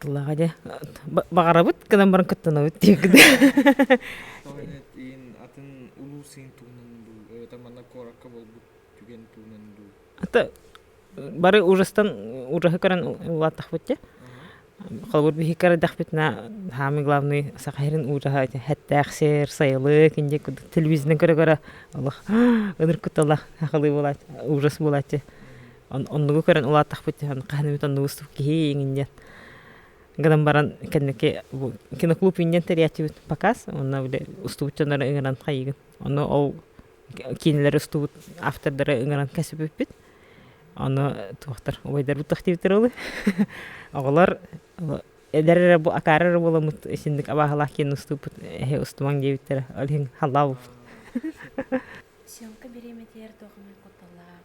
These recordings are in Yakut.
Тыллааҕа дьэ баҕарабыт гынан баран кыттынабыт диэккит иин атын улуус иин туһунан дуу эбэтэр манна куоракка буолбут түгэн туһунан дуу ата бары ужастан ужаһы көрөн улааттахпыт дьэ холобур биһикки эрдэхпитинэ самый главный саха сирин ужаһа эттээх сир сайылык индия курдук телевизорынан көрө көрө олох ынырык куттала ахылыы буолааччы ужас буолааччы оннугу көрөн улааттахпыт диэн хаһан эмит оннук выступ киһи иҥин диэн гынан баран кэнники бу киноклуб иҥнэн тэрийээччибит показ уонна били устубут дьоннору ыҥыран хайыгын ону ол киинэлэр устубут автордары ыҥыран кэсиппиппит ону туохтар убайдарбыт тохтиибиттэр олы оҕолор эдэр эрэ бу акаары эрэ буоламмыт исинник абааһылаах киэн уступпут эһи устумаҥ диэбиттэрэ ол иһин халлаабыппыт съемка бириэмэтигэр туох эмэ кутталлаах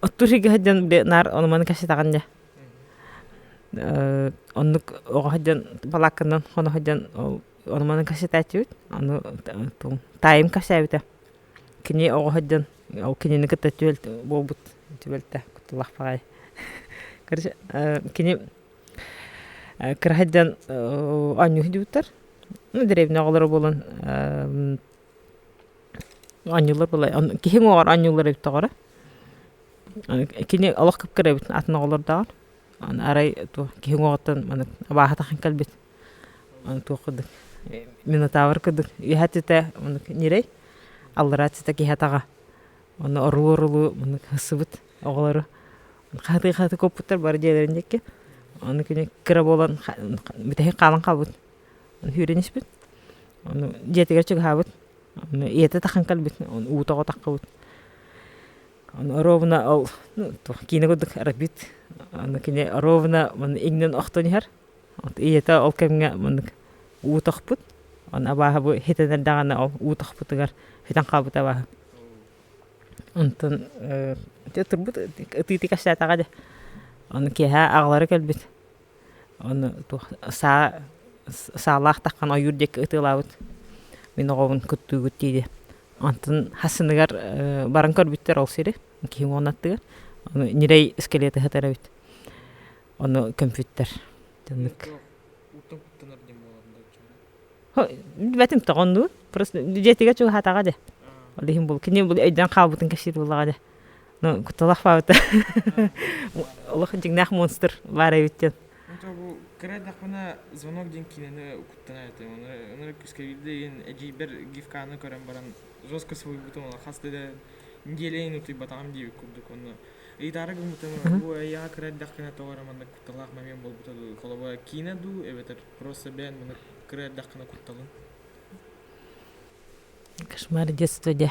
оттуур сиргэ сылдьан наар ону маны кэпсэтэҕин дии оннук оҕо сылдьан балаакканан хоно сылдьан ону маны кэпсэтээччибит аны таайым кэпсээбитэ кини оҕо сылдьан ол кинини кытта буолбут түбэлтэ кутталаах баҕайы короче кини кыра сылдьан оонньуу сылдьыбыттар ну дэриэбинэ оҕолоро буолан Анньылар былай киһи уҥуоҕар анньыллар эбиттээҕэрэ кини олох кып-кыра эбит атын оҕолордооҕор арай туох киһи уҥуоҕуттан маны абааһы атахан кэлбит аны туох курдук минотавр курдук үөһэ аттыта маннык ньирэй аллараа аттыта киһи атаҕа уонна оруу орулуу маннык ылсыбыт оҕолору хаһытыы хаһытыы куоппуттар бары дьиэлэрин диэки аны кини кыра буолан бүтэһик хаалан хаалбыт Үһүөрүн испит, ону дьиэтигэр чугаһаабыт, ону ийэтэ тахан кэлбит, ону уута оҕотаххыбыт. Ону оруобуна ол киинэ курдук арбит, ону кини оруобуна манна иҥнэн охтон иһэр, ийэтэ ол кэмҥэ маннык уу тохпут, ону абааһы бу иһитиннэр даҕаны ол уу тохпутугар сүтэн хаалбыт абааһы. Онтон ытырбыт ытыытыы кэпсээтэҕэ дии, ону киэһэ аҕалара кэлбит. Ону саа саалаах таххан ойуур диэки ытыалаабыт мин оҕобун куттуугут диэри онтон хасыныгар баран көрбүттэр ол сири киһи уон аттыгар аны ньирэй скелеты ыһытар эбит ону көмпүттэр итинник билбэтимтэ оннугу просто дьиэтигэр чугаһаатаҕа дии ол иһин кини бу өйдөөн хаалбытын кэпсиир буоллаҕа дии ну куталах фаабыта олох дьиҥнээх монстр баар эбит диэн бу кыра даахпына звонок диэн киинэни укуттана этим онуора күүскэ киирдигин эдьиийбэр гифканы көрөн баран жестко суруйбутум она хаста да неделяйын утуйбатаҕым диэбит курдук онно ыйытаары гыммытым бу эйиэҕэ кыра даахпына тоҕо маннык кутталаах момент буолбута дуу холобура киинэ дуу эбэтэр просто бэйэн маны кыра даахпына кутталын кошмар детство дьэ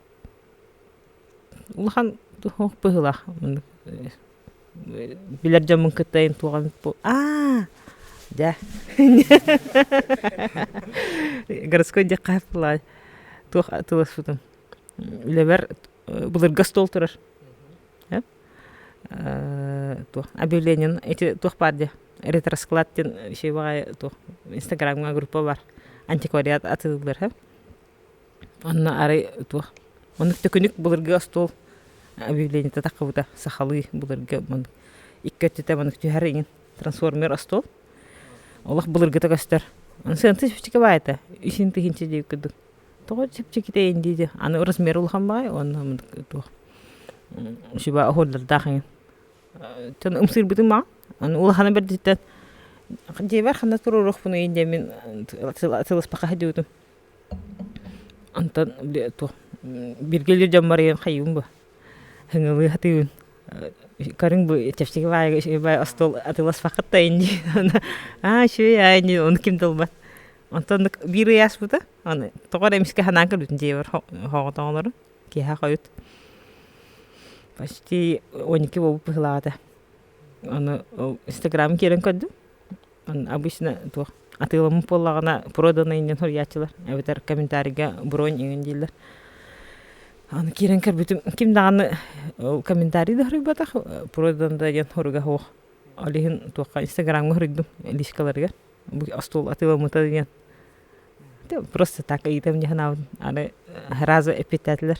Улахан туох быһыылаах билэр дьоммун кытта эн туоҕан аа дьэ городской диэххэ буоллаҕа туох тыласпытым үлэбэр былыргы остуол турар туох объявлениен эти туох баар диэ ретросклад диэн еще баҕайы туох инстаграмҥа группа баар антиквариат атыылыыллар Онно арай туох маннык төкүнүк былыргы остуол объявлениета таххыбыта сахалыы былыргы маннык икки өттүтэ маннык түһэр иҥин трансформер остуол олох былыргыта көстөр аны сыаната чэпчэки баайата исин тыһыынча диэбит курдук тоҕо чэпчэкитэй ини дии аны аны размер улахан баҕайы уонна маннык туох шуба оһуордардаах иҥин дьон ымсыырбытын баҕа аны улахана бэрдиттэн дьиэбэр ханна туруоруохпунуй диэн мин сыласпакка сылдьыбытым Онтон туох биргэлиир дьон барыйан хайыыбын буо һыҥылыы сатыыбын көрүҥ бу чэпчэки баайга остуол атыыласпаккыт да ини аа үчүгэй аа ини ону ким да ылбат онтон биир ый ааспыта аны тоҕо эрэ эмискэ санаан көрбүтүм дьиэбэр хоҕотоҕолору киэһэ хойут почти он икки буолбут быһыылаах этэ аны инстаграмм киирэн көрдүм обычно туох атыыламмыт буоллаҕына проданы иннин суруйааччылар эбэтэр комментарийга бронь иҥин дииллэр аны киирэн көрбүтүм ким даҕаны комментарий да суруйбатах продан да диэн соруга суох ол иһин туохха инстаграмҥа суруйдум личкаларыгар бу остуол атыыламмыта диэн просто так ыйытым дии санаабын аны сразу эппиэттээтилэр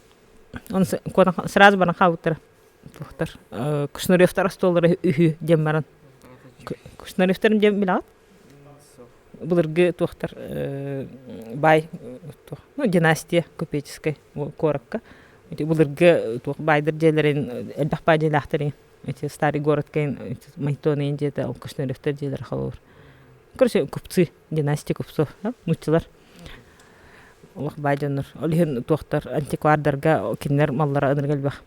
Он сразу баран хаалбыттара туохтар Кушнаревтар остуоллара үһү диэн баран Кушнаревтарын диэн билэҕит былыргы туохтар баай туох ну династия купеческай куоракка былыргы туох баайдар дьиэлэрин элбэх баай дьиэлээхтэрин эти старый город кээн Майтоны дьиэтэ ол Кушнаревтар дьиэлэрэ халылар короче купцы Гимнастик упсу нууччалар олох баай дьоннор ол иһин туохтар антиквардарга кинилэр маллара ынырыга элбэх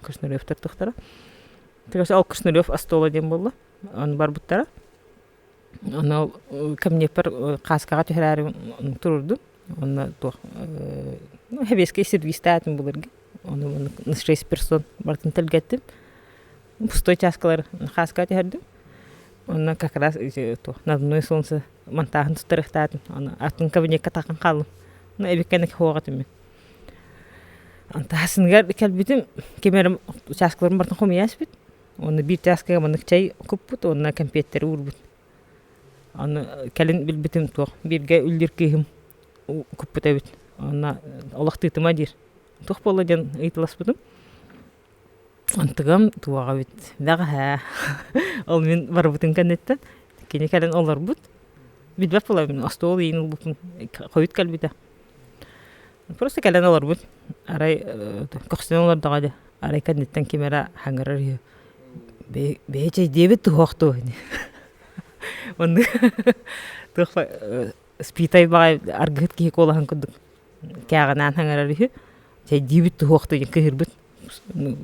Кушнаревтар туохтара ол Кушнарев остола диэн буолла аны барбыттара аны камнепер кааскаҕа түһэрээри турурдум Уонна туох ну сэбиэскэй сервистаатым былыргы ону шесть персон барытын тэлгэттим пустой чааскалар хааска түһэрдим уонна как раз туох надувное солнце монтаһын туттарыахтаатын аны атын кабинекка тахсан хааллым ну эбиккэник хоһоҕо этиммин таһысыныгар кэлбитим ким эрэ учаскаларын барытын хомуйа испит уонна биир чааскаҕа маннык чай куппут уонна кэмпиэттэри уурбут Аны кэлин билбитим туох бииргэ үллүүр кыыһым куппут эбит уонна олохтуутума диир туох буолла диэн ыйыталаспытым антыгам туоҕа эбит бэҕэһээ ол мин барбытын кэнниттэн кини кэлэн олорбут билбэт буолабын мин остуол иһин ылбыппын хойут кэлбитэ Просто кэлэн олорбут арай көхсүнэн олордоҕо дии арай кэнниттэн ким эрэ хаҥырар үһү бэйи чэйдиэбит туһуох дуо онно туох спитай баҕайы аргыһыт киһи куолаһын курдук кээҕинээн хаҥырар үһү чэйдиибит туһуох дуо диэн кыыһырбыт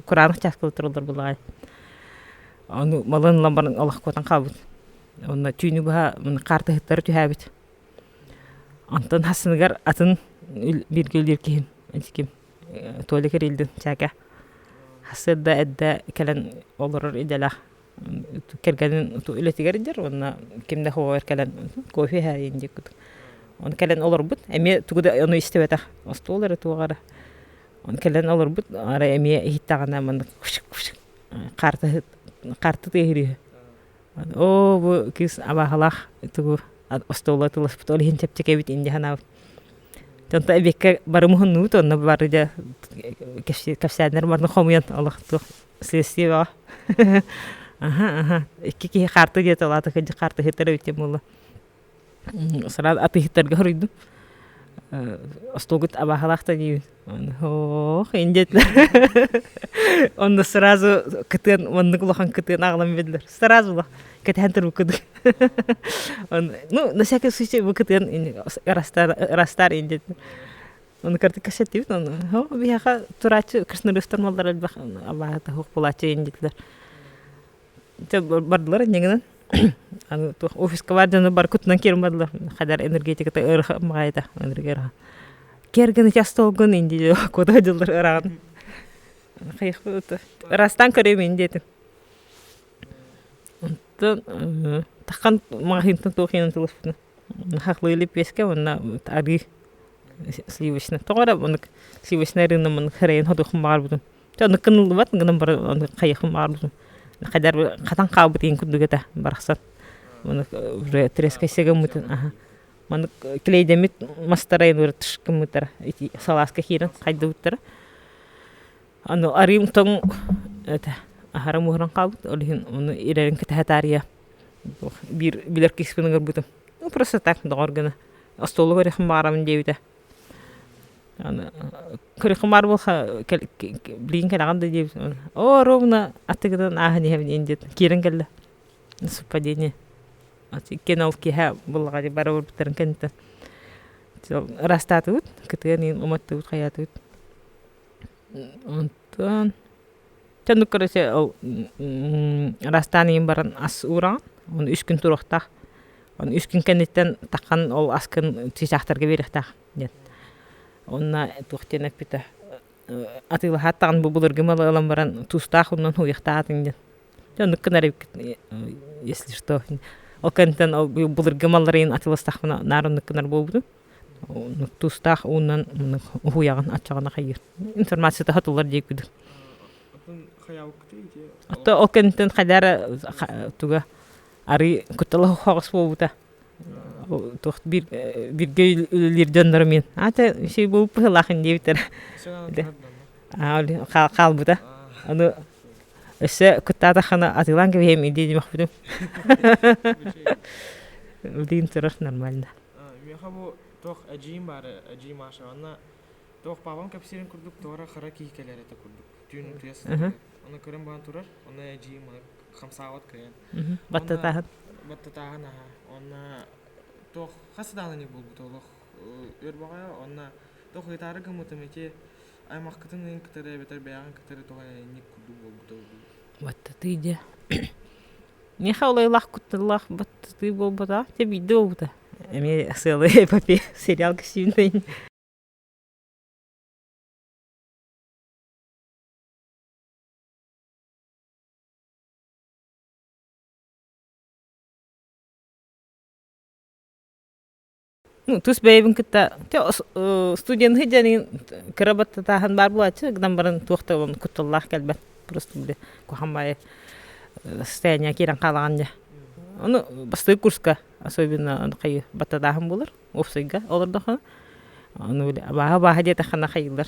кураанах чааска олордор буоллаҕа аны малын ламбарын олох куотан хаалбыт онно түүнү быһа каартыһыттары түһээбит Онтон хасыныгар атын бииргэ үлэлиир киһим ити ким Толик Эрилдин чээкэ сырда эрдэ кэлэн олорор идэлээх кэргэнин үлэтигэр илдьэр уонна ким да хоһугар кэлэн кофе иһээйиин диэки кутур ону кэлэн олорбут эмиэ тугу да ону истибэтэх остуол эрэ туох эрэ ону кэлэн олорбут арай эмиэ иһиттэҕинэ маннык кушык кушык харта харта тыаһыыр үһү Оо бу кыыс абааһылаах тугу остуола ытыласпыт ол иһин чэпчэкэбит инде санаабыт онто эбиэккэ бары муһуннубут онно бары дьэ кэпсээннэр барытын хомуйан олох туох следствие бөҕө аха аха икки киһи харты диэт ол аата кырдьык хаартыһыттар эбит диэн буолла Сараа атыыһыттарга хоруйдум остуолгут абааһылаах да диибин оһох ин диэтилэр онно сразу кытыан маннык улахан кытыаны аҕалан биэрдилэр сразу ла кэтэһэн турбут курдук ну на всякий случай бу кытыан ырастаар ин диэтилэр ону кыратык кэпсэттибит ону биһиэхэ турааччы красноречтар буоллар элбэх абааһыта суох буолааччы ин диэтилэр бардылар иннигинэн аны туох офиска бар дьону бары кутунан киирэн бардылар хадар энергетиката ыраха маҕайыта энергия ыраха киэргэн участогун инди кода дьыллар ыраҕын хайыахпыт ырастан көрөмүн диэтим онтон тахан магазинтан туох иһин тылыспытын хахлыйли песке уонна арыы сливочный тоҕо эрэ мунук сливочный рынна мунук хрен ходохум баарбытын Онно кыныллыбат гынан бары хайыхым аарлым. Хайдар хатан хаалбыт иин курдугата барахсан. Маннык уже трескайсега мутун аха. Маннык клейдэмит мастарайын өр тышкымытара ити салааска киирэн хайдыбыттара. Аны арыым тоҥ это аһарым уһуран хаалбыт. Ол иһин ону ирэрин кэтэхэтаария биир билэр кискунугар бутум. Ну просто так доҕор гына остуолугар эхим баарабын диэбитэ. Аны кырыхымаар былха билигин кэлэҕин да диэбит оо ровно атыгытын ааһан иһэбиниин диэт киирэн кэллэ совпадение иккиэн ол киэһэ буллаҕа дии бары барбыттарын кэнниттэн ыраастаатыбыт кытыан иһин уматтыбыт хайаатыбыт Онтон ну короче ол ыраастаан иһин баран ас уураҕын ону үс күн туруохтаах ону үс күн кэнниттэн таххан ол аскын чыычаахтарга биэриэхтээх диэн уонна туох диэн эппитэ атыылаһааттаҕын бу былыргы малы ылан баран туустаах умнан уһуйахтаатыҥ диэн дьэ оннук гынар эбиккит если что ол кэнниттэн ол былыргы маллары иһин атыыластахпына наар оннук гынар буолбутум тустаах ууннан уһуйаҕын аччаҕын ахыйыы информацията хатыллар диэккүдү отто ол кэнниттэн хайдаар туга арыы куттала хоҕос буолбута туох бир биргэ үлэлиир дьоннору мин аата сий буолбут быһылаахын диэбиттэр хаалбыта аны өссө куттаата хана атыылаан кэбиһэм идиэ димэхпитим билигин турар нормально Миэхэ бу туох эдьиийим баара, эдьиий Маша, уонна туох папам кэпсиирин курдук туора хара киһи кэлэр этэ курдук. Түүн утуйа сытар. Ону көрөн баран турар, онно эдьиийим маны хамсаабат кыайан. Баттатааһын. Баттатааһын, аһа. Онно туох хас дааланик буолбут олох өр баҕайа, онно туох ыйытаары гыммытым ити аймахкытын ыйын кытары эбэтэр бэйэҕин кытары туох инник курдук буолбута буолбут. Баттатыы дьэ. Миэхэ улаайлаах кутталлаах баттатыы буолбута дьэ биирдэ буолбута эмиэ сыалы эпопея сериал гостиница тус бэйэбин кытта чэ студент сыдьаныгын кыра баттатааһын баар буолааччы гынан баран туох да кутталлаах кэлбэт просто били куһам баайы состояние киирэн хаалаҕын дьэ ону бастакы курска особенно хайы баттатааһын буолар уопсайга олордоххуна ону били абааһы абааһы диэтэххинэ хайыыллар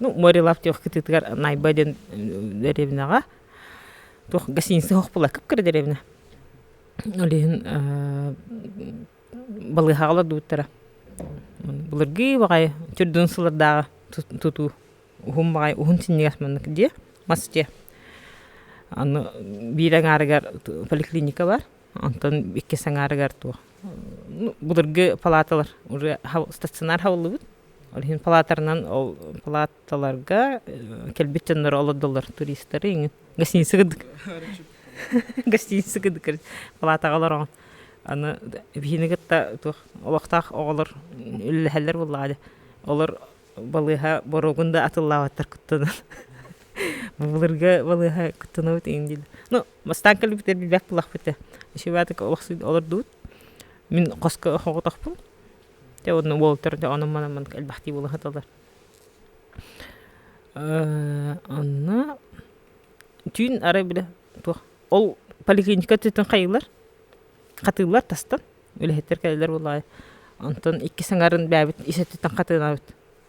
ну моря лав туох кытыытыгар найба диэн деревняҕа туох гостиница оһох була кыпкыра деревня ол иһин балыыһаҕалар дууттара былыргы баҕайы төрдүн сыллардааҕы тутуу уһун баҕайы уһун синньигэс маннык дии мас дии аны биир аҥаарыгар поликлиника бар Онтон иккис аҥаарыгар туох былыргы палаталар уже стационар хабыллыбыт. Ол иһин палатарынан ол палаталарга кэлбит дьоннор олордоллор туристары иҥин гостиница кырдык гостиница кырдык палатаҕа олороҕун аны эбиһини кытта туох олохтоох оҕолор үлэлэһэллэр буоллаҕа дии олор балыыһа боруогун да атыллаабаттар куттанан бу былыргы балыыһа куттанабыт иҥин дииллэр ну Мастаан кэлбитэ билбэх булахпыта. Ишиватык олохсуйд олордубут. Мин хоско хоҕотохпун. Те онно уолтарда онон манан маннык элбэхтии булахаталар. Онно түүн арай били туох ол поликлиника түтүн хайылар хатыылар тастан үлэһиттер кэлэлэр буолаайы. Онтон икки саҥарын бээбит исеттитен хатыынабыт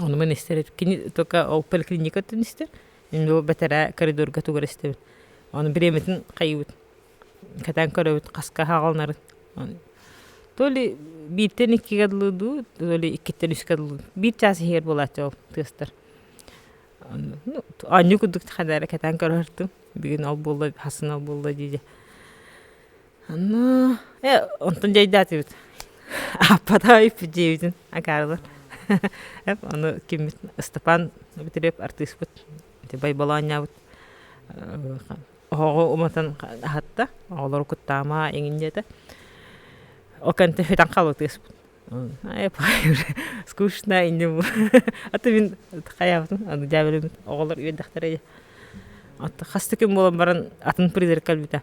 Ону мин истэр кини только ол поликлиникаттан истэр мин бу бэтэрээ коридорга тугар истэбин ону бириэмэтин хайыыбыт кэтэн көрөбүт хаска аһаҕаланарын то ли бииртэн иккигэ дылы дуу то ли иккиттэн үскэ дылы дуу биир чаас иһигэр буолааччы ол тыастар оонньуу курдук ханна эрэ кэтэн көрөһөртүм бүгүн ол буолла хасын ол буолла дии дии Ону э онтун дьайдаатыбыт Аппатаев дьиэбитин акаарылар ону киммит Ыстапаан Битириэп артыыспыт байбалаанньабыт оһоҕу уматан аһатта оҕолору куттаама эҥин диэтэ ол кэнтэ сүтэн хаалбытыспыт скучно инде бу а ты мин хайаабытын аны дьээбэлэммит оҕолор үөрдэхтэрэ дии оттон хас да күн буолан баран атын призрак кэлбитэ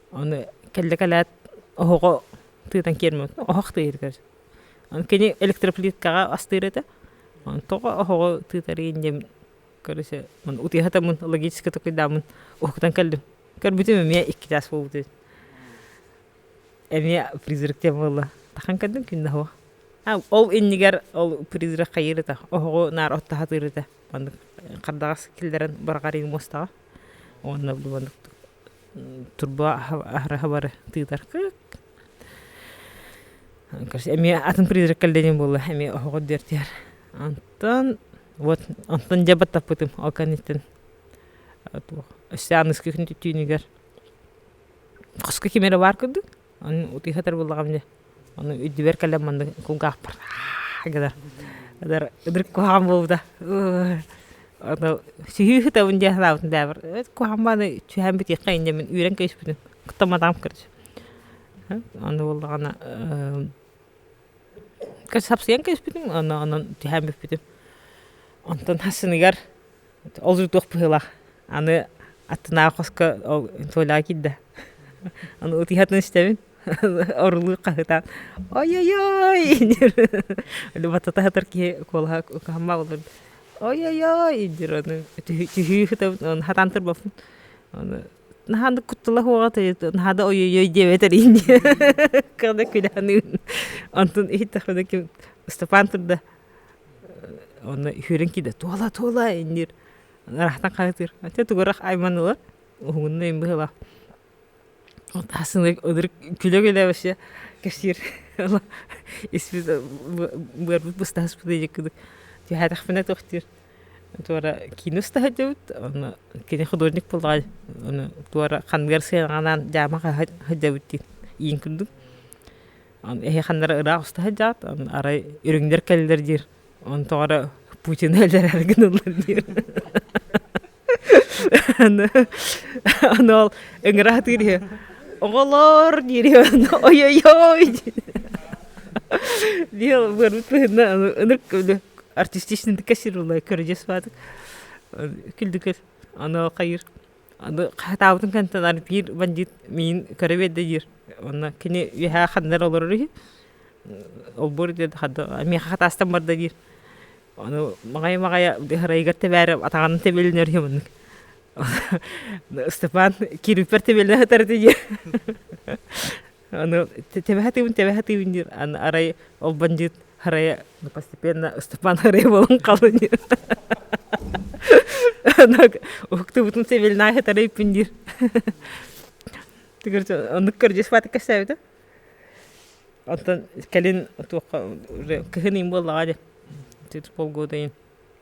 Аны кэллэ кэлээт оһоҕо тыытан киэрмэбит, оһох тыыйытыгар. Аны кини электроплиткаҕа астыыр этэ, тоҕо оһоҕу тыытарыйын диэн көрүсэ утуйатаммын логически такуйдааммын уһуктан кэллим. Көрбүтүм эмиэ икки чаас буолбут эбит. Эмиэ призрак диэн буолла. Тахан көрдүм күн да оһуох. Ол иннигэр ол призрак хайыыр этэ, оһоҕу наар оттоһо атыыр этэ. Маннык хардаҕас киллэрэн быраҕарыым муостаҕа. Уонна бу маннык турбу аһараһа бары тыытар кык короче эмиэ атын призрак кэллэним буолла эмиэ оһоҕо диэртиһэр онтон вот онтон дьэ баттаппытым ол кэнниттэн өссө аныгы күн түүнүгэр хоско ким эрэ баар курдук Аны утуйхатар буллаҕым дии. Ону үрдүбэр кэлэн маннык кулгаахпар гынар. Ытар ытырык куһаҕан буолбута. Ону сүһүү ыһытабын дии санаабытым дьаабар куһаҕан мааны сүһээн бүтүөххэ инде мин үүрэн кэбиспитим. Куттан матаҕым кырдьык. Ону буоллаҕына сапсыйан кэбиспитим. Онно онон сүһээн бүппүтүм. Онтон сыныгар Ол дьултуох быһыылаах аны аттынааҕы хоско ол Толяга киирдэ аны ытыһатын истэбин орулуу хаһытаан ой-ой-ой батата сытар киһи куолаһа куһамма олордо ой-ой-ой диир аны түһүү сытабын аны сатаан турбаппын аны наһаа аны куттала суоҕа наһаа да ой-ой-ой диэбэт эрэйин диэн онтун иһиттэхпинэ ким Ыстапаан турда Онно үһүөрэн киирдэ туола туола иннир ыраахтан хаһыытыыр ате тугурах айман ылар уһугуннуйун быһыылаах ол таасыны ылыр күлө күлэ вообще кэпсиир ыла испит быарбыт быстаһыспыт диэки кыдык түһээтэхпинэ тохтуур туора киинэ устаһа өтөбүт онно кини художник буоллаҕа ону туора ханныгар сыанаҕанаан дьаама хаһа сылдьабыт диин иин курдук Эһиэхэннэри ыраах уста сылдьаат, арай үрүҥнэр кэллилэр диир, онтон эрэ Путин өллөрөр гыныллар диир аны ол ыҥыра сатыыр үһү оҕолор диир ойойой диил барбыт быһынна ынырык артистичнытыка сир улай көрүдьэс баатык күлдүкүл аны хайыр Аны хатаабытын кэнтэн биир бандьыыт миин көрө биэрдэ диир. Уонна кини үөһээ ханнар олорор үһү. Олбуор диэн ханна миэхэ хатаастан барда диир. Аны маҕайы-маҕайы арайыгар тэбээрэ атаҕынан тэбилинэр үһү маннык. Ыстапаан киирбиппэр тэбилинэ сытар ити диир Аны тэбэһэ тыыбын тэбэһэ тыыбын диир аны арай ол бандьыыт арайа постепенно Ыстапаан арайа буолан хаалан иһэр уһуктубутун севельнай хатары иппин диир оннук көрдьүспаатык кэсээбитэ оттон кэлин туохха кыһын иин буоллаҕа дии полгода иин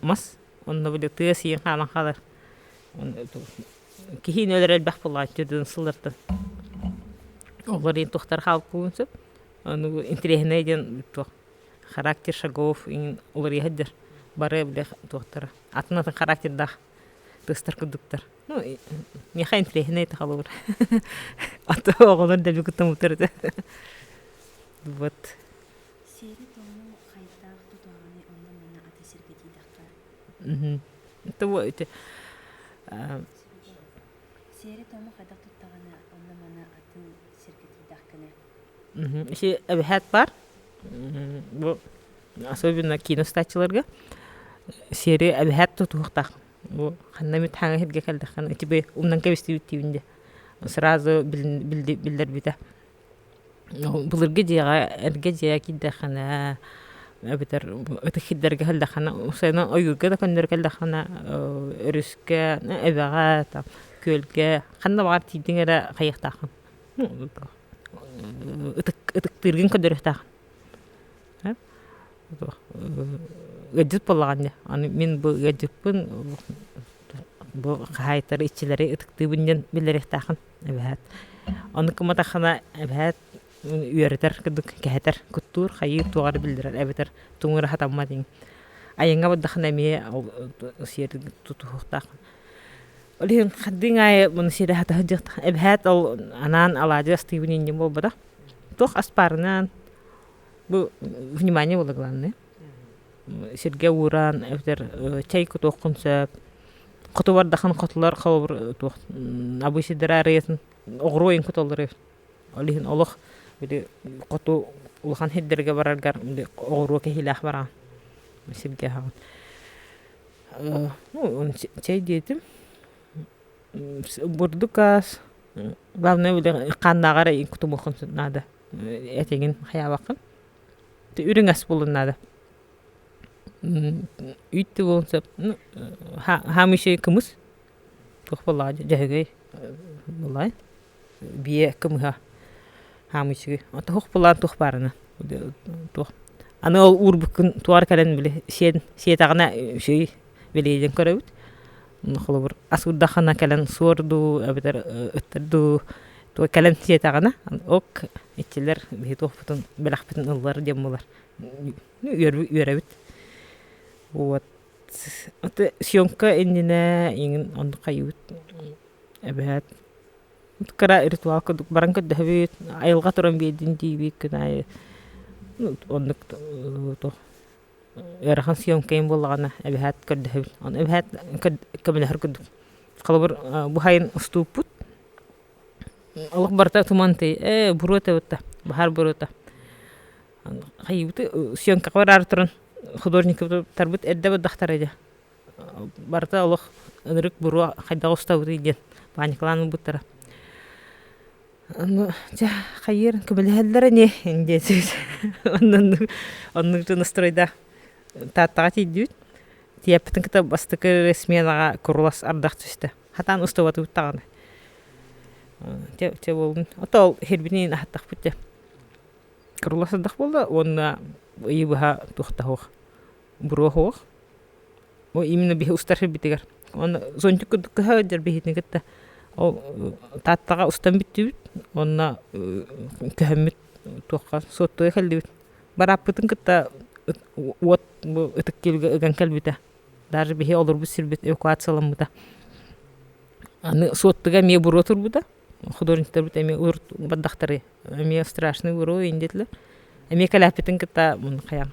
мас онно били тыа сиин хаалан хаалар киһиин өлөр элбэх буолааччы дьон сыллартан олор иһин туохтар хаалбытын сөп ону интириэһинэй диэн туох характер шагов иһин уларыйаһыддыр бары били туохтара атын атын характердаах тыастар курдуктар ну миэхэ интириэһинэй таҕалыбыр аты оҕолор дэби куттаммыттар этэ вот Хайдах тутаҕыный онно-манна аты сиргэтиитэххэ? Сиэри-туому хайдах туттаҕына онно-манна атын сиргэтиитэхкинэ? Эбэһээт баар, бу особенно киин устааччыларга сиэри эбэһээт тутуһуохтаах. Бу ханна эмит хаһан иһиргэ кэлдэххинэ ити умнан кэбистибит диибин дии. Сразу биллэрбитэ. Былыргы дьиэҕэ эргэ дьиэ киирдэххинэ эбэтэр ытык киирдэргэ кэллэххинэ сайын ойуурга да көннөрү кэллэххинэ өрүскэ эбэҕэ там күөлгэ ханна баҕар тиийдиҥ эрэ хайыахтааххын ытыктыыргын көрдөрүөхтээххин ыалдьыт буоллаҕын дии аны мин бу ыалдьыппын бу хаһаайыттары иччилэри ытыктыыбын диэн биллэриэхтээххин Эбэһээт Ону кыматахына эбэһээт үөрэтэр курдук кэһэтэр куттуур хайыы туох эрэ биллэрэр эбэтэр туҥура сатаммат иҥ айаҥҥа бардаххына эмиэ сиэр тутуһуохтаах ол иһин хардыыҥ аайы муну сиэрэ сата сылдьыахтаах эбэһээт ол анаан алаадьы астыыбын иннинэ буолбатах туох аспаарынан бу внимание буолар главное сиргэ уураан эбэтэр чэй кутуоххун сөп хоту бардахан хотулар холобур туох обычайдара арыйатын оҕуруойун куталлары ол иһин олох били хоту улахан сирдэргэ бараргар били оҕуруо кэһиилээх бараҕын сиргэ аһаҕын ну чэй диэтим бурдук аас главное били хааннааҕар кутумуоххун наада этиҥин хайаабаккын Үрүҥэс булун наада үүттүү буолуон сөп хаамыйча кымыс туох буоллаҕа дьөһөгөй буолаайын бие кымыһа хаамыйчыгый туох булаан туох баарына туох аны ол уурбуккун туора кэлэн били сиэтэҕинэ үчүгэй бэлиэтиэн көрөбүт холобур асыырдаххына кэлэн суор дуу эбэтэр ыттар дуу тугу кэлэн сиэтэҕинэ ок иччилэр биһи туохпутун бэлэхпитин ыллар диэн буолар үөрэбит вот съёмка иннинэ иҥин оннук хайыыбыт эбэһээт кыра ритуал курдук баран көрдөһөбүт айылҕа туран биэрдин диибит күн аайы оннук туох ыарахан съемкайым буоллаҕына эбэһээт көрдөһөбүн ону эбэһээт көмөлөһөр курдук холобур бу сайын устууппут олох барыта туман тыый ээ буруота бытта баһаар буруота хайыыбыты съемкаҕа бараары туран художникпытын туттарбыт эрдэ бардахтара дьэ Барыта олох ынырык буруо хайдах устабытый диэн паникалаан ылбыттара. Ону чэ хайыыр көмөлөһөллөр ини диэтибит оннук оннук дьон устройда Тааттаҕа тиийдибит. Тиийэппитин кытта бастакы сменаҕа курулас ардах түстэ. Хатаан устубатыбыт даҕаны. Чэ чэ буолбун отоол сирбитин аһаттахпыт дьэ. Курулас ардах буолла уонна ыйы быһа туох да суох буруоһуох ол именно биһи устархибитигэр уонна зонтик курдук кыһа ылдьар биһитини кытта ол тааттаҕа устан бүттүбүт уонна көһөммүт туохха суоттуга кэллибит барааппытын кытта уот бу ытык киилгэ ыган кэлбитэ даже биһи олорбут сирбит эвакуацияламмыта аны суоттуга эмиэ буруо турбута художниктарбыт эмиэ бардахтары эмиэ страшный буруо диэтилэр эмиэ кэлээппитин кытта мун хайаҕа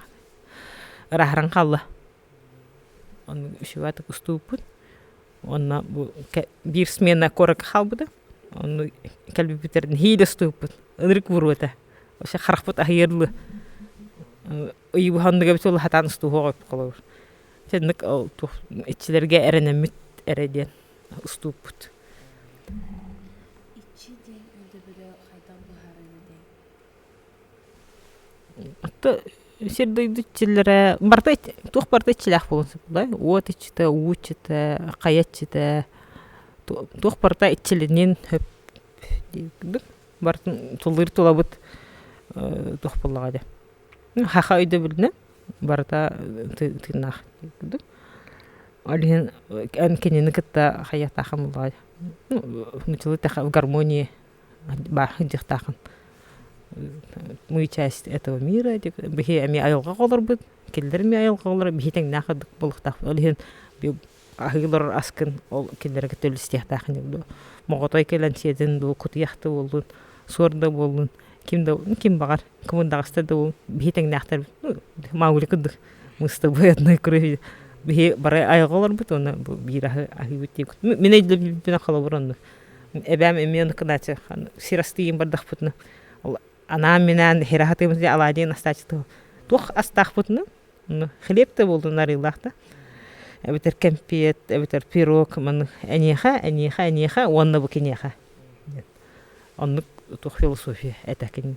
Ыраһыран хаалла. Ону үсүбаатык устубуппут. Уонна бу биир смена куоракка хаалбыта. Ону кэлбиппитигэр нэһиилэ устубуппут. Ынырык буолбута. Вообще харахпыт аһыйар дылы. Ыйыбыһа оннуга эбит ол сатаан устуһуох эбит холобур. Чэ инник ол туох иччилэргэ эрэнэммит эрэ диэн уступпут. Иччи диэн өйдөбүлү хайдах быһаарар этэй? сир-дойду иччилэрэ барыта туох барыта иччилээх буолуон сөп да уот иччитэ уу иччитэ хайа иччитэ туох барыта иччилинин сөп диэбит барытын туллуур тулабыт туох буоллаҕа дии саха өйдөбүлүнэн барыта тыыннаах курдук ол иһин эн кинини кытта хайа атаахан буоллаҕа дии ну нууччалыы гармония бааһын дьахтаахын мы часть этого мира биһи эмиэ айылҕаҕа олорбут кинилэр эмиэ айылҕаҕа олорор биһи тэҥнээх ордук буолуохтаахпыт ол иһин аһыы олорор аскын ол кинилэргэ кытта үлүстүөхтээх ини дуу моҕотой кэлэн сиэтин дуу кутуйах да буоллун суор да буоллун ким да ким баҕар кымырдаҕаста да буоллун биһи тэҥнээхтэр маугли курдук мыстабыайатынай куру биһи бары айылҕаҕа олорбут уонна биир аһы аһыыбыт диэбит мин өйдөбүлбүнэн холобур оннук эбээм эмиэ ону кынааччы сир астыйын бардахпытына ол анаан минээн иһирэ сатыыбын дии алаадьыйан астааччытыгар туох астаахпытына онно хлеб да буоллун арыылаах да эбэтэр кэмпиэт эбэтэр пирог маны эниэхэ эниэхэ эниэхэ уонна бу киниэхэ оннук туох философия этэ кини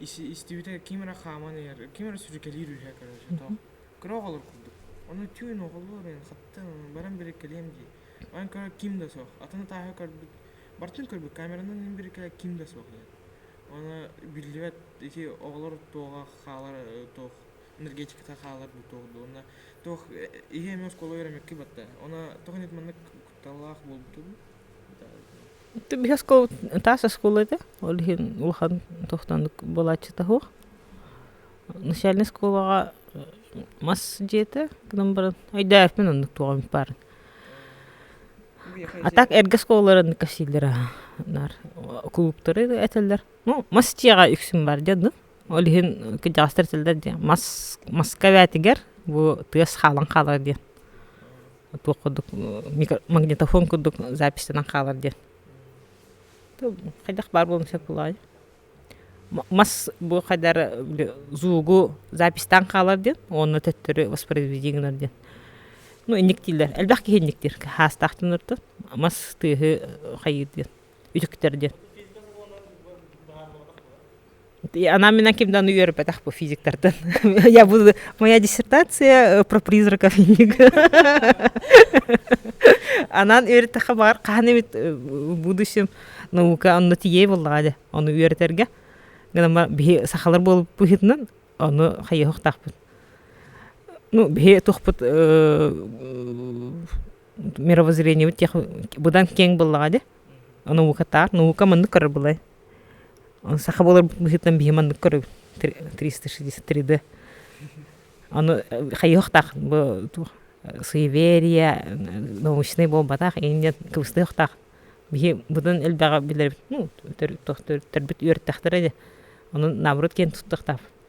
истибитэ ким эрэ хааман иһэр ким эрэ сүрүкэлиир үһэ короче тоох кыра оҕолор курдук ону түүн оҕолор мен хаттан баран бириккэлиэм дии манан көрө ким да суох атын атааһы көрбүт бартын көрбүт камеранан ин бириккэлэ ким да суох диэн аны биллибэт ити оҕолор туоҕа хаалар туох энергетиката хаалар дуу туох дуу уонна туох иһи эмэ оскуола үөрэммикки батта она тоҕо нет маннык талаах булдум да биһи оскуола таас оскуола этэ ол иһин улахан тохтонук буолааччыта суох начальнай оскуолаҕа мас дьиэтэ гынан баран өйдөөбөппүн оннук туох эмит баарын а так эргэ оскуолалар оннук сииллэр аһа наар кулууптары этэллэр ну мас дьиэҕэ үксүн бар дьэ ну ол иһин кырдьаҕастар этэллэр дии мас маска эбээтигэр бу тыас хаалан хаалар диэн туох курдук магнитофон курдук запистэнэн хаалар диэн хайдах баар буолуон сөп буолуоҕай мас бу хайдар зуугу запистаан хаалар диэн уонна төттөрү воспроизведи гынар диэн ну инниктииллэр элбэх киһи инниктиир хаастаахтан ортон мас тыаһы хайыыр диэн үтүктэр диэн. Анам менен ким даны үөрбэтэх бу физиктартан. Я буду моя диссертация про призраков Анан үөртэхэ бар хаһан эмит будущем наука онно тие буллаҕа дэ ону үөрэтэргэ гынан биһи сахалар болып пыһытынан ону хайыһохтаахпыт ну биһи тухпут мировоззрениебит тех быдан кең быллаҕа де наукатаар наука маннык көрөр былай саха буолар быһыытынан биһи маннык көрөбүт триста шестьдесят три д аны хайыһахтаах бу суеверия научнай буолбатаах инде кыбыстыахтаах биһи быдан элбэҕи билэбит ну төрүт төрүттэрбит үөртэхтэрэ де онон наоборот киэн туттахтаах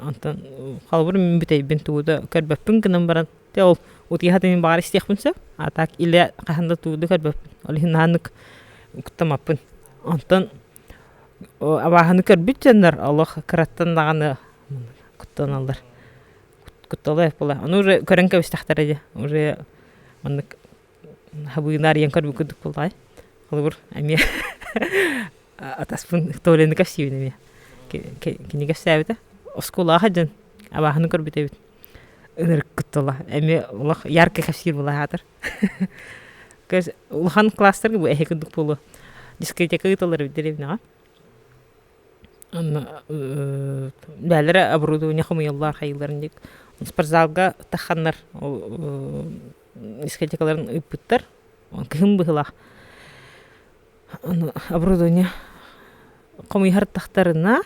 Онтон холобурум мин бүтэйбин туу да көрбөппүн гынан баран дьэ ол утуйа сатыыбын мин баҕар истиэхпин сөп а так или хаһан да туу да көрбөппүн ол иһин наһаннык куттаммаппын онтон абааһыны көрбүт дьоннор олох кыраттан даҕаны куттаналлар куттала буолуо аны уже көрөн кэбистэхтэрэ дии уже маннык Хабыына арыйан көрбүт курдук буоллаҕай. Холобур эмиэ атаспын Кто Лены кэпсиибин эмиэ кини кэпсээбитэ оскуолаҕа сылдьан абааһыны көрбүт эбит ынырыккыт тыла эмиэ олох ярко кэпсиир былаһаатар улахан класстарга бу эһи курдук буолуо дискотека ыыталлар эбит деревняҕа онно бээлэрэ оборудование хомуйаллар хайыылларын диэк спортзалга тахханнар искатикаларын ыыппыттар. Кыһын быһылаах оборудование хомуйуһартахтарына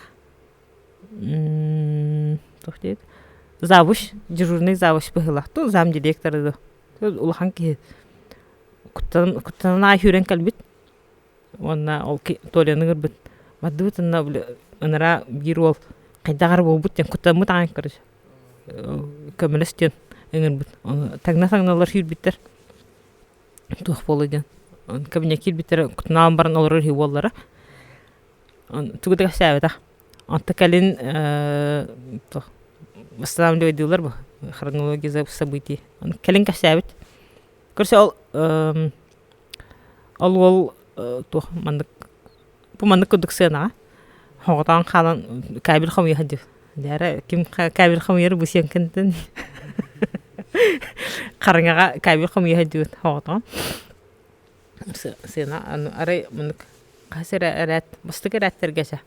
туох диэт завуч дежурный завуч быһылаах ту зам директора да улахан киһи куттан куттанан аахүрэн кэлбит уонна ол толяны көрбүт бардыбыт анна ынара биир уол хайдаҕар буолбут диэн куттаммыт аан көрө көмөлөс диэн ыҥырбыт таҥна-таҥналар сүүрбүттэр туох буолуой диэн кабинет киирбиттэрэ кутунаалын баран олорор үһү буоллара тугу да кэпсээбэтэх онто кэлин восстанавливайдыылар бу хронология событий кэлин кэпсээбит көрсе ол ол уол туох маннык пуманнык курдук сыанаҕа хоҕотоон хаалан кабель хомуйа див дээре ким кабель хомуйар бу сиэҥкинтин хараҥаҕа кабель хомуйа дивит хоҕотоон сыана арай мунук хас эрэ эрээт бастык эрээттэргэчэ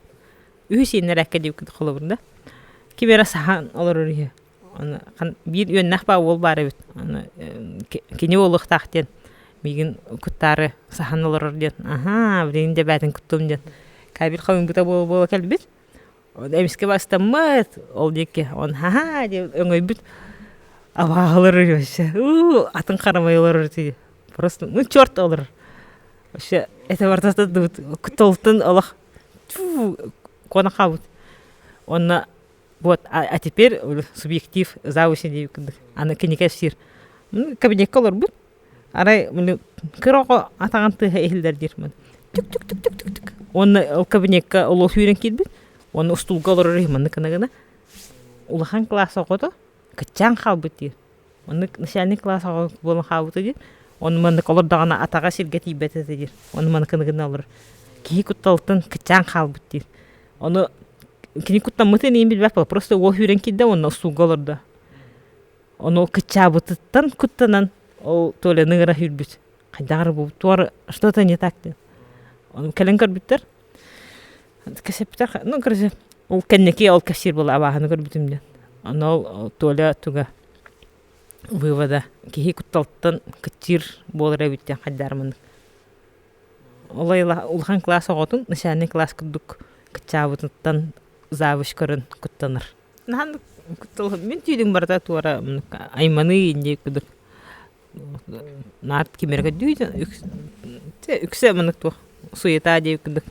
үһү сииннэрээккэ диэбиккит холобур да ким эрэ саһаан олорор үһү биир үөннээх баа уол баар эбит кини буолуохтаах диэн миигин куттаары саһан олорор диэн аһаа билигин да эбээтин куттуум диэн кабель халыҥпыта буола кэлбит эмискэ бастаммыт ол диэки он хаһаа диэн өҥөйбүт абааһылар вообще уу атын харамай олорор ити просто ну черт олорор вообще это бартатыт дыбыт кутолтун олох куона хаабыт уонна Вот, а, а теперь субъектив завуч дии курдук аны кинигэ сир кабинетка олорбут арай кыр оҕо атаҕын тыаһа иһиллэр диир мын түк түк түк түк түк түк уонна ол кабинетка олох сүүрэн киирбит уонна устуулга олорор маннык гына улахан класс оҕото кыччаан хаалбыт диир Маннык начальник кылаас оҕо буолан хаалбыта дии. Ону маннык олор даҕаны атаҕа сиргэ тиийбэт этэ диир. Ону маныкыны гына олорор. Киһи кутталыттан кыччаан хаалбыт диир. Ону кини куттаммытын иһин билбэппэ. Просто уол сүүрэн киирдэ уонна устуулга олордо. Ону ол кыччаабытыттан куттанан ол Толяны ыра сүүрбүт. Хайдах эрэ буолбут, туора что-то не так диэн. Ону кэлэн көрбүттэр. Кэсиптэх, ну, короче, ол кэнники ол кассир була абааһыны көрбүтүм диэн. Аны ол Толя туга вывода киһи кутталтан кыттыыр буолара эбит диэн хайдаар маннык. Ол айыла улахан кылаас оҕотун начальнай кылаас курдук кыччаабытыттан завуч көрөн куттанар. Наһаа куттал мин түйдүм барыта туора айманыы инди кудук Наар кимиргаддыы да үксэ маннык туох суета дии курдук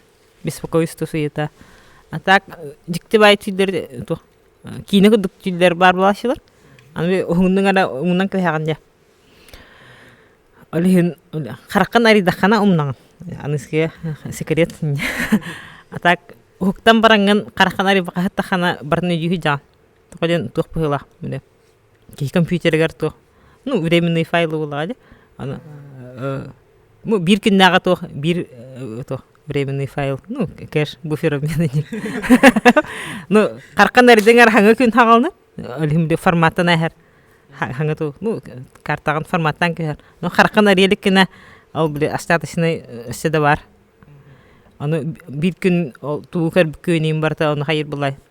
беспокойство суета а так дьиктибай тиийдэр туох киинэ курдук тиийдэр баар буолааччылар аны уһугуннук эрэ умунан кэбиһэҕин дии ол иһин хараххын арыйдаххына умнаҕын аныгыскыга секрет а так уһуктан бараҥҥын хараххын арыйбакка аһыттаххына барын өйдүүр дьаҕаҥ тоҕо диэн туох быһыылаах компьютерыгар туох ну временный файлы булаҕа дии аны ну биир күннээҕи туох биир туох временный файл ну кэш буфер обмена дии ну хархан эрдиҥэр хаҥа күн хаҕалны олимди форматтан эһэр хаҥа ту ну картаҕын форматтан кэһэр ну хархан ариэлик кинэ ол били остаточный өссө да бар аны биир күн ол туу көрбүккүөнүн барыта ону хайыр булай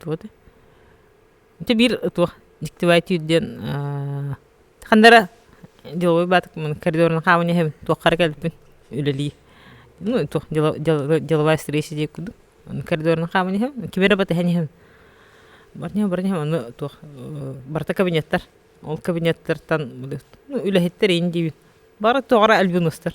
тугу этэй ити биир туох дегтевая тир диэн ханна эрэ деловой баатык коридорунан хааман иһэбин туохха эрэ кэлбиппин үлэлии ну туох деловая встреча диир курдук коридорунан хааман иһэбин кими эрэ батыһан иһэбин батыһыам барыһыам аны туох барыта кабинеттар ол кабинеттартан ну үлэһиттэр ин диибин бары тоҕо эрэ альбинустар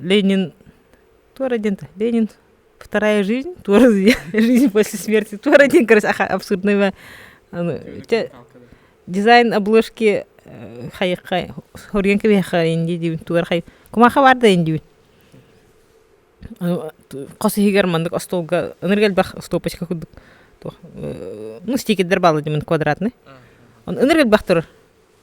Ленин тор один Ленин вторая жизнь тор жизнь после смерти тор один короче абсурдного дизайн обложки хайыхха хоруйан кэбиэххэ инди диибин тугар хай кумаха барда индибин хос иһигэр маннык остуолга ынырга элбэх стопочка курдук ну стикердер баалла димин квадратный ынырга элбэх турар